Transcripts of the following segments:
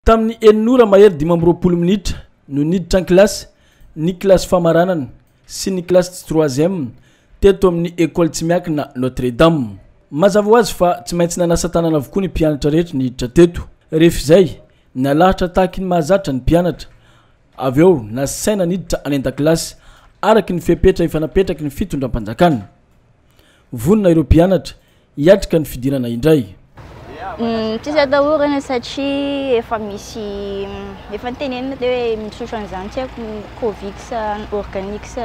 Tamin'ny enina ora mahery dimy amby roapolo minitra no niditra an-kilasy ny kilasy famaranana sy ny kilasy tsy troisième teto amin'ny Ecole tsy miakina Notre Dame. Mazava ho azy fa tsy maintsy nanasa tanana avokoa ny mpianatra rehetra niditra teto. Rehefa izay, nalahatra tahaky ny mahazatra ny mpianatra. Avy eo, nasaina niditra any an-dakilasy, araky ny fepetra efa napetraky ny fitondram-panjakana. Vonona ireo mpianatra hiatrika ny fidirana indray. Tsy azo atahorana satria efa misy efa nitenenina teo hoe misotra an'izany tsy haiko Covid sa organic sa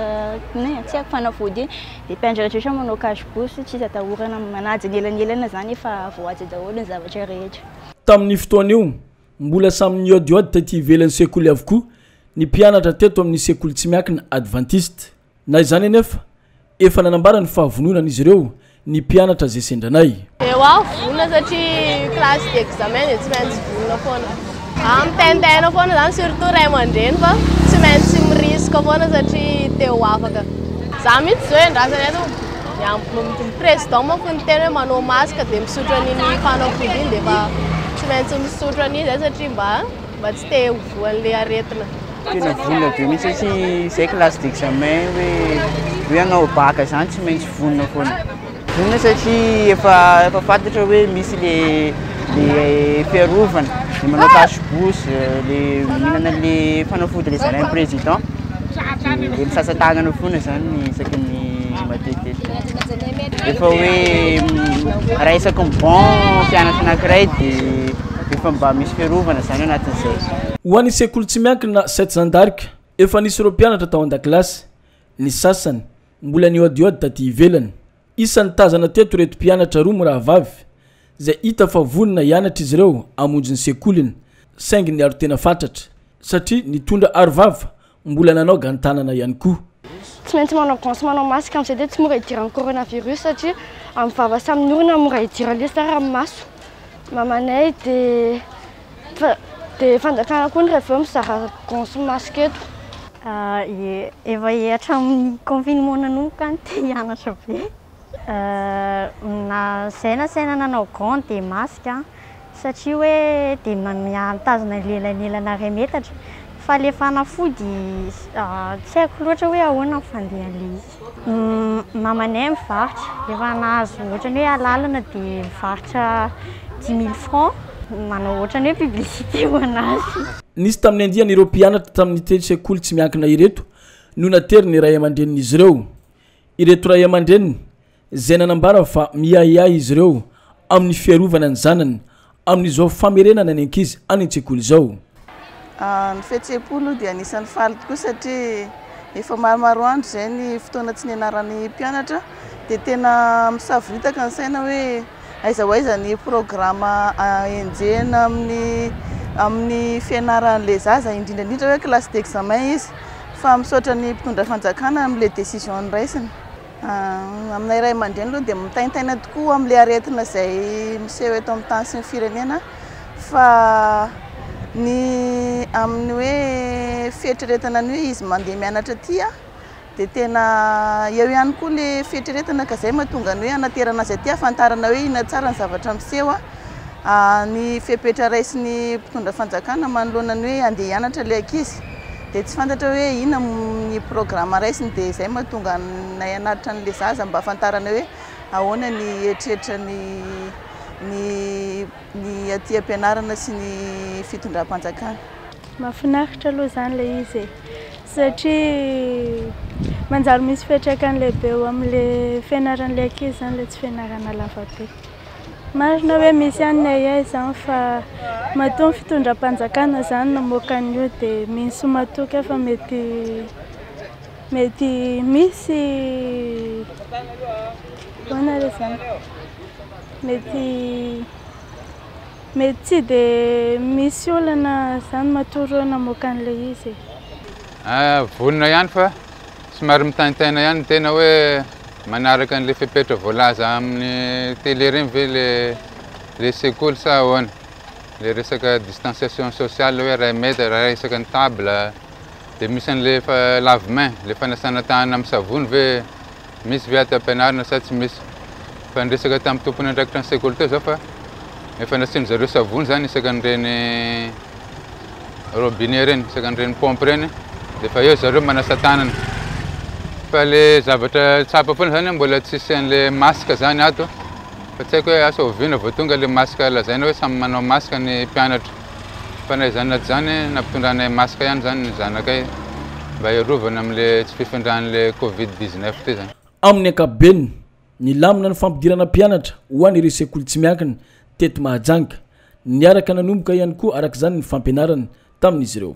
inona e, tsy haiko fanafody iny, dia mpianatra rehetra manao cache bouche, tsy azo atahorana manaja ny elanelana izany efa voahaja daholo ny zavatra rehetra. Tamin'io fotoana io, mbola samy nihaodihaody taty ivelan'ny sekoly avokoa ny mpianatra teto amin'ny sekoly tsy miankina advantista. Na izany anefa, efa nanambara ny fahavononan'izy ireo ny mpianatra izay sendranay. Dia ho aho vonona satria classe d'examen dia tsy maintsy vonona foana. Ah, mitaintaina foana izany surtout ray aman-dreny fa tsy maintsy mi-risque foana satria te ho afaka. Za mihitsy izao iandrasana eto, ny président manko niteny hoe manao masque dia misotro an'iny fanafody iny dia efa tsy maintsy misotro an'iny izay satria mba mba tsy te ho voan'ilay aretina. Tena vonona be mihitsy satria izay classe d'examen hoe hoe hanao bac izany tsy maintsy vonona foana. Vonona satria efa efa fantatra hoe misy le le fiarovana, le manao cache bouche, le mihinana le fanafody le zarain'ny président, de le misasa tanana foana izany isaky ny matetitetiky. Efa hoe raha isaky ny banc mpianatra anankiray de. Efa mba misy fiarovana izany anatin'izay. Ho an'ny sekoly tsy miankina sept zandarika, efa nisy ireo mpianatra tao an-dakilasy. Ny sasany, mbola nihoadihoady taty ivelany. Isan'ny tazana teto ireto mpianatra roa mirahavavy, izay hita fa vonona hianatra izy ireo hamonjy ny sekoliny, saingy niaro tena fatratra, satria nitondra arovava Mbola nanao gant tanana ihany koa. Tsy maintsy manao gant sy manao masque amin'izay dia tsy mora hidiran'ny coronavirus satria amin'ny vava sy amin'ny orona mora hidiran'ny lesy zany raha amin'ny maso. Mamanay dia dia fanjakana koa ny raha aveo mizara gant sy masque eto. Efa hatramin'ny confinement nanomboka any te hianatra be. Na izay na saina nanao gants dia masque an! satria hoe dia mitazona ny lelanelana iray metatra fa ilay fanafody tsy haiko loatra hoe ahoana ny fandehan'ilay izy. Ny mamanay mivarotra, rehefa nahazo ohatran'ny hoe alalana dia mivarotra dix mille francs, manao ohatran'ny hoe publicité ho an'azy. Nisy tamin'ny andiany ireo mpianatra tamin'ny telo sekoly tsy miankina ireto no naterin'ny ray aman-drenin'izy ireo. Ireto ray aman-dreniny izay nanambara fa miahiahy izy ireo amin'ny fiarovana ny zanany amin'izao famerenana ny ankizy any an-tsekoly izao. Ny fihetseham-po aloha dia anisan'ny faly tokoa satria efa maromaro andro izay ny fotoana tsy nianaran'ny mpianatra dia tena misavoritaka ny saina hoe Aiza ho aiza ny programa enjehina amin'ny amin'ny fianaran'ilay zaza, indrindra indrindra hoe classe d'examen izy. Fa misaotra ny mpitondra fanjakana amin'ilay décision noraisiny. Aminay ray aman-dreny aloha dia mitaintaina tokoa amin'ilay aretina izay miseho eto amin'ny tany sy ny firenena fa ny amin'ny hoe fieritreretana ny hoe izy mandeha mianatra aty Dia tena eo ihany koa le fieritreretana ka zay mahatonga ny hoe hanaterana azy aty ahafantarana hoe inona tsara ny zavatra miseho a. Ny fepetra raisin'ny mpitondra fanjakana manoloana ny hoe andeha hianatra le ankizy dia tsy fantatra hoe inona ny programme raisiny dia zay mahatonga anay hanatitra an'le zaza mba ahafantarana hoe ahoana ny eritreritra ny ny ny aty am-pianarana sy ny fitondram-panjakana. Mahafinaritra aloha izany ilay izy e, satria manjary misy fiantraikany lehibe eo amin'ilay fianaran'ilay ankizy izany ilay tsy fianarana lava be. Marina hoe misy ihany ny ahiahy izany fa matoa ny fitondram-panjakana izany namoaka an'io dia mino sy matoky aho fa mety mety misy ahoana re izany mety Mety tsy dia misy olana zany matoa reo namoaka an'ilay izy e. Ahh vonona ihany fa somary mitaintaina ihany ny tena hoe manaraka an'ilay fepetra voalaza amin'ny télé ireny ve ilay sekoly sa ahoana? Ilay resaka distanciation sociale hoe iray mètre raha resaka ny table dia misy an'ilay efa lave main, ilay fanasana tanana amin'ny savony ve? Misy ve aty ampianarina sa tsy misy? Efa niresaka tamin'ny tompon'andraikitra ny sekoly teo izaho fa efa nasian-dry zareo savony izany isaka an'ireny robinet ireny, isaka an'ireny paompy ireny dia efa eo ry zareo manasa tanana. Fa ilay zavatra tsapa foana izany mbola tsy hisian'ny le masque izany ato fa tsy haiko hoe asa oviana vao tonga ilay masque lazaina hoe samy manao masque ny mpianatra. Fa na izany na tsy izany, nampitondranay masque ihany izany ny zanakay mba hiarovana amin'ilay tsy fifindran'ilay covid dix neuf ity izany. Amin'ny ankapobeny, nilamina ny fampidirana mpianatra ho an'ireo sekoly tsy miankina teto Mahajanga. Niaraka nanomboka ihany koa araka izany ny fampianarana tamin'izy ireo.